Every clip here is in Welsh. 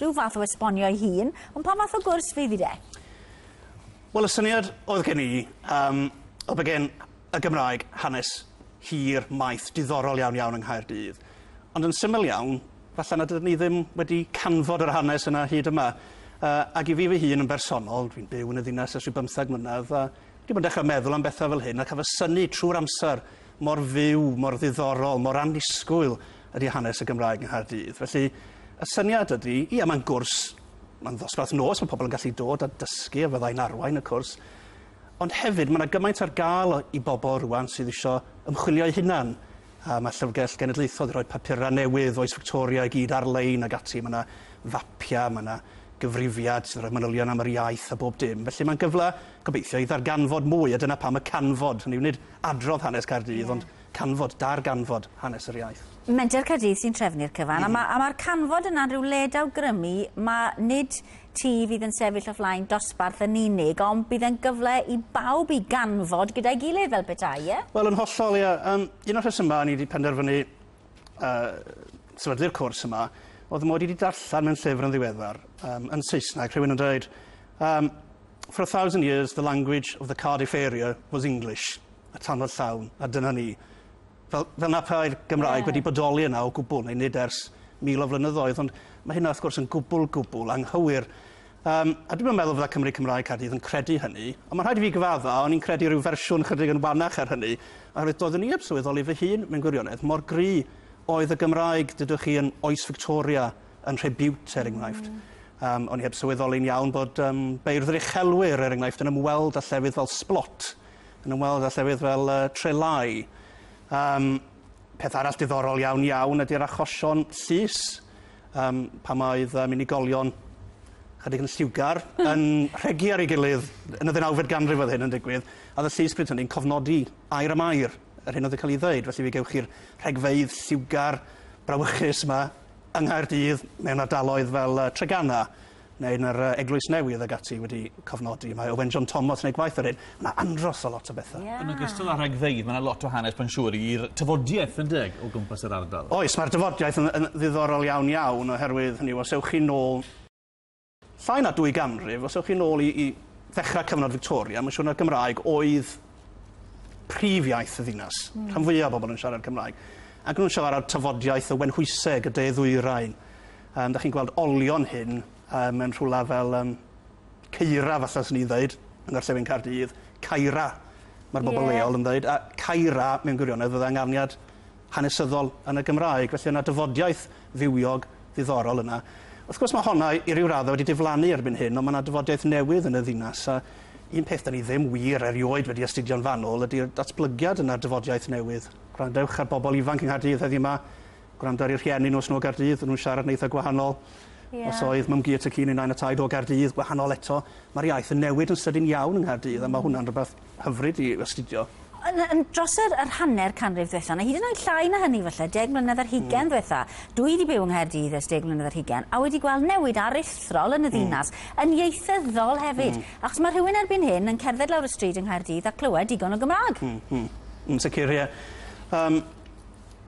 Rhyw fath o esbonio ei hun, ond pa fath o gwrs fydd hi de? Wel y syniad oedd gen i yym oedd bod gen y Gymraeg hanes hir, maith, diddorol iawn iawn yng Nghaerdydd, ond yn syml iawn, falle nad ydyn ni ddim wedi canfod yr hanes yna hyd yma. Yy ag i fi fy hun yn bersonol, dwi'n byw yn y ddinas ers rhyw bymtheg mlynedd, a dwi 'di bod yn dechre meddwl am betha fel hyn, a ca'l fy synnu trw'r amser mor fyw, mor ddiddorol, mor annisgwyl ydy hanes y Gymraeg yng Nghaerdydd. Felly, y syniad ydy, ia, mae'n gwrs, mae'n ddosbarth nos, mae pobl yn gallu dod a dysgu a fyddai'n arwain y cwrs, ond hefyd mae yna gymaint ar gael i bobl rwan sydd eisiau ymchwilio'u hunan. A mae Llyfrgell Genedlaethol wedi rhoi papurau newydd, Oes Victoria i gyd ar-lein ac ati. Mae yna fapiau, mae yna gyfrifiad sydd yn rhoi manylion am yr iaith a bob dim. Felly mae'n gyfle, gobeithio, i ddarganfod mwy, a dyna pam y canfod, hynny yw nid adrodd hanes Caerdydd, yeah. ond Canfod, darganfod hanes yr iaith. Menter Caerdydd sy'n trefnu'r cyfan, a ma', a ma'r canfod yna'n rhyw le dawgrymu, ma' nid ti fydd yn sefyll o flaen dosbarth yn unig, ond bydd e'n gyfle i bawb i ganfod gyda'i gilydd fel petai, ie? Wel, yn hollol, ie. Yym, un o'r rhesymau o'n i 'di penderfynu, yy, sefydlu'r cwrs yma, o'dd mod i 'di darllen mewn llyfr yn ddiweddar, yym, yn Saesneg, rhywun yn dweud, yym, For a thousand years the language of the Cardiff area was English. a tannodd llawn, a dyna ni. Fel, fel na pai'r Gymraeg yeah. wedi bodoli yna o gwbl, neu nid ers mil o flynyddoedd, ond mae hynna wrth gwrs yn gwbl, gwbl anghywir. Um, a dwi'n meddwl fydda Cymru Cymraeg Caerdydd yn credu hynny, ond mae'n rhaid i fi gyfadda, o'n i'n credu rhyw fersiwn chydig yn wanach ar hynny, oherwydd doeddwn i heb sylweddoli fy hun, mewn gwirionedd, mor gry oedd y Gymraeg, dydwch chi, yn oes Victoria, yn Rhebiwt, er enghraifft. Mm. Um, o'n i heb sylweddoli'n iawn bod um, beirdd yr uchelwyr, er enghraifft, yn ymweld â llefydd fel Splot, yn ymweld â llefydd fel uh, Trelai. Um, peth arall diddorol iawn iawn ydy'r achosion llys um, pan oedd um, unigolion chydig yn lliwgar yn rhegi ar ei gilydd yn y ddeunawfed ganrif oedd hyn yn digwydd a oedd y llys pryd hynny'n cofnodi air am air yr hyn oedd yn cael ei ddeud felly fe gewch chi'r rhegfeydd lliwgar brawychus yma yng Nghaerdydd mewn ardaloedd fel uh, Tregana neu yn yr yy Eglwys Newydd ag ati wedi cofnodi mae Owen John Thomas yn neud gwaith o'r hyn. Ma' 'na andros o lot o bethe. Ie. Yn ogystal â rhagfeydd ma' 'na lot o hanes mae'n siŵr i'r tafodiaith yndyg o gwmpas yr ardal. Oes ma'r dafodiaith yn yn ddiddorol iawn iawn oherwydd hynny yw os ewch chi nôl llai na dwy ganrif os ewch chi nôl i i ddechra cyfnod Victoria ma' siŵr na'r Gymraeg oedd prif iaith y ddinas. Hmm. Rhan fwya o bobl yn siarad Cymraeg ac nw'n siarad tafodiaith y Wenhwyseg y de-ddwyrain Yym, 'dach chi'n gweld olion hyn yy mewn rhywle fel yym Ceira falla swn i'n ddeud, yng ngorllewin Caerdydd, Caira ma'r bobl... Ie. ...leol yn ddeud a Caira mewn gwirionedd fydde ynganiad hanesyddol yn y Gymraeg felly o' 'na dyfodiaeth fywiog ddiddorol yna. Wrth gwrs ma' honna i i ryw radde wedi diflannu erbyn hyn on' ma' 'na dyfodiaeth newydd yn y ddinas a un peth 'dan ni ddim wir erioed wedi astudio'n fanwl ydi'r datblygiad yn y dyfodiaith newydd. Gwrandewch ar bobl ifanc yng Nghaerdydd heddiw 'ma gwrando ar ei rhieni nhw os nhw o Gaerdydd, o'n nhw'n siarad yn eitha gwahanol. Yeah. Os oedd Mam Gu a Tŷ Ci neu Nain a Taid o Gaerdydd, gwahanol eto. Mae'r iaith yn newid yn sydyn iawn yng Nghaerdydd mm. a mae hmm. hwnna'n rhywbeth hyfryd i astudio. Yn, yn dros yr, yr hanner canrif diwetha, na hyd yn oed llai na hynny falle, deg mlynedd ar hugen mm. diwetha, dwi wedi byw yng Nghaerdydd ers deg mlynedd ar hugen, a wedi gweld newid aruthrol yn y hmm. ddinas, mm. yn ieithyddol hefyd. Mm. Achos mae rhywun erbyn hyn yn cerdded lawr y stryd yng Nghaerdydd a clywed digon o Gymraeg. Mm. Mm. Yn sicr, ie. Um,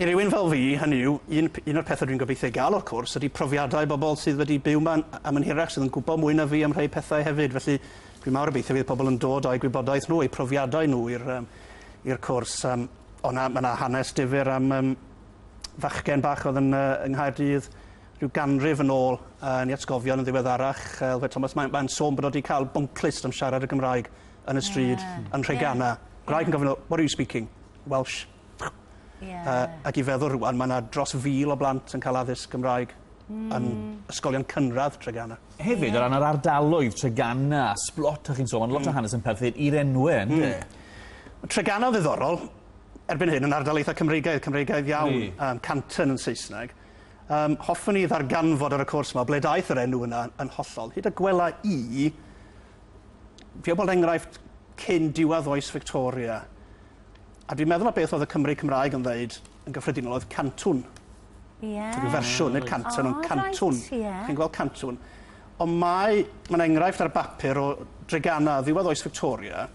I rywun fel fi, hynny yw, un un o'r pethe dwi'n gobeithio ei ga'l o'r cwrs ydi profiadau bobl sydd wedi byw 'ma am yn hirach, sydd yn gwbo mwy na fi am rhei pethau hefyd, felly dwi mawr obeithio fydd pobl yn dod â'u gwybodaeth nhw, eu profiadau nhw i'r yym i'r cwrs yym o' 'na ma' 'na hanes difyr am yym fachgen bach o'dd yn yy yng Nghaerdydd ryw ganrif yn ôl yy yn 'i atgofion yn ddiweddarach yy Elfed Thomas mae'n mae'n sôn bod o 'di ca'l bwnclust am siarad y Gymraeg yn y stryd yn Nhreganna. Gwraig yn gofyn iddo 'what are you speaking? Welsh. Ie. Yy ac i feddwl rŵan ma' 'na dros fil o blant yn ca'l addysg Gymraeg... Hmm. ...yn ysgolion cynradd Treganna. Hefyd o ran yr ardaloedd Treganna a Sblot o' chi'n sôn ma' lot o hanes yn perthyn i'r enwe on'd e? Hmm. Treganna ddiddorol erbyn hyn yn ardal eitha Cymreigaidd Cymreigaidd iawn. Ydi. Yym Canton yn Saesneg. Yym hoffwn i ddarganfod ar y cwrs 'ma o ble daeth yr enw yna yn hollol. Hyd y gwela i fi am bod enghraifft cyn diwedd oes Victoria A dwi'n meddwl na beth oedd y Cymry Cymraeg yn ddeud yn gyffredinol oedd cantwn. Ie. Rhyw fersiwn, nid cantwn, ond cantwn. Right, ie. Chi'n gweld cantwn. Ond mae, mae'n enghraifft ar bapur o dregana ddiwedd oes Victoria,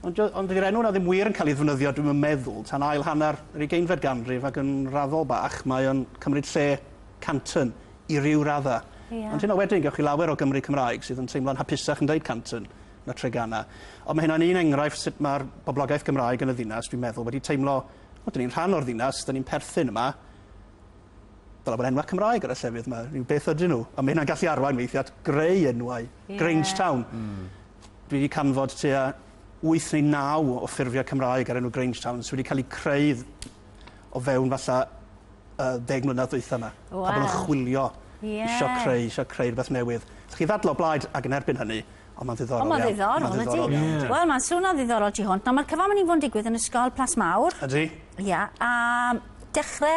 ond, ond dydy'r enw yna ddim wir yn cael ei ddefnyddio, dwi'n yn meddwl, tan ail hanner yr ugeinfed ganrif ac yn raddol bach, mae o'n cymryd lle Canton i ryw radda. Yeah. Ond hyn o wedyn, gewch chi lawer o Gymry Cymraeg sydd yn teimlo'n hapusach yn dweud Canton na Treganna. Ond mae hynna'n un enghraifft sut mae'r boblogaeth Gymraeg yn y ddinas, dwi'n meddwl, wedi teimlo, o, dyn ni'n rhan o'r ddinas, dyn ni'n perthyn yma. Dyla bod enwau Cymraeg ar y llefydd yma, rhyw beth ydyn nhw. A mae hynna'n gallu arwain weithiau at greu enwau. Yeah. Grangetown. Mm. Dwi wedi canfod tua 8 neu 9 o ffurfiau Cymraeg ar enw Grangetown sydd wedi cael eu creu o fewn falle y ddeg mlynedd dwytha 'ma. Waw. Pobol yn chwilio. Ie. Isio creu, isio creu rwbeth newydd. Chi ddadl o blaid ag yn erbyn hynny, ond ma'n ddiddorol iawn. Ond ma'n ddiddorol, ydi? Ma'n ddiddorol iawn, ydi. Wel, ma'n swno ddiddorol tu hwnt. Nawr, ma'r cyfan myn' i fo' yn digwydd yn Ysgol Plas Mawr. Ydi. Ia, a dechre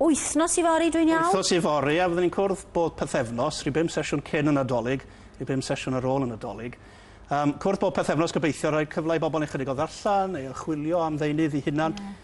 wythnos yfory, dwi'n iawn? Wythnos yfory, a fydden ni'n cwrdd bob pythefnos, rhyw bum sesiwn cyn y Nadolig, rhyw bum sesiwn ar ôl y Nadolig. Yym, cwrdd bob pythefnos, gobeithio rhoi cyfle i bobol neu' chydig o ddarllen, neu archwilio am ddeunydd 'u hunan. Ie.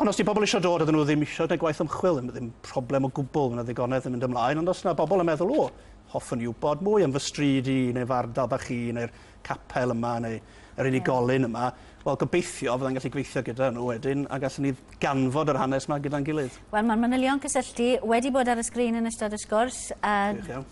Ond os 'di pobl isio dod a 'dyn nhw ddim isio gwneud gwaith ymchwil, ddim ddim problem o gwbl, ma' 'na ddigonedd yn mynd ymlaen, ond os 'na bobl yn meddwl, 'O, hoffwn i wybod mwy am fy stryd i, neu'r fardal bach i, neu'r capel yma, neu yr unigolyn yma', wel, gobeithio fydda i'n gallu gweithio gyda nhw wedyn a gallwn ni ganfod yr hanes 'ma gyda'n gilydd. Wel, mae'r manylion cysylltu wedi bod ar y sgrin yn ystod y sgwrs, a... Gwych iawn.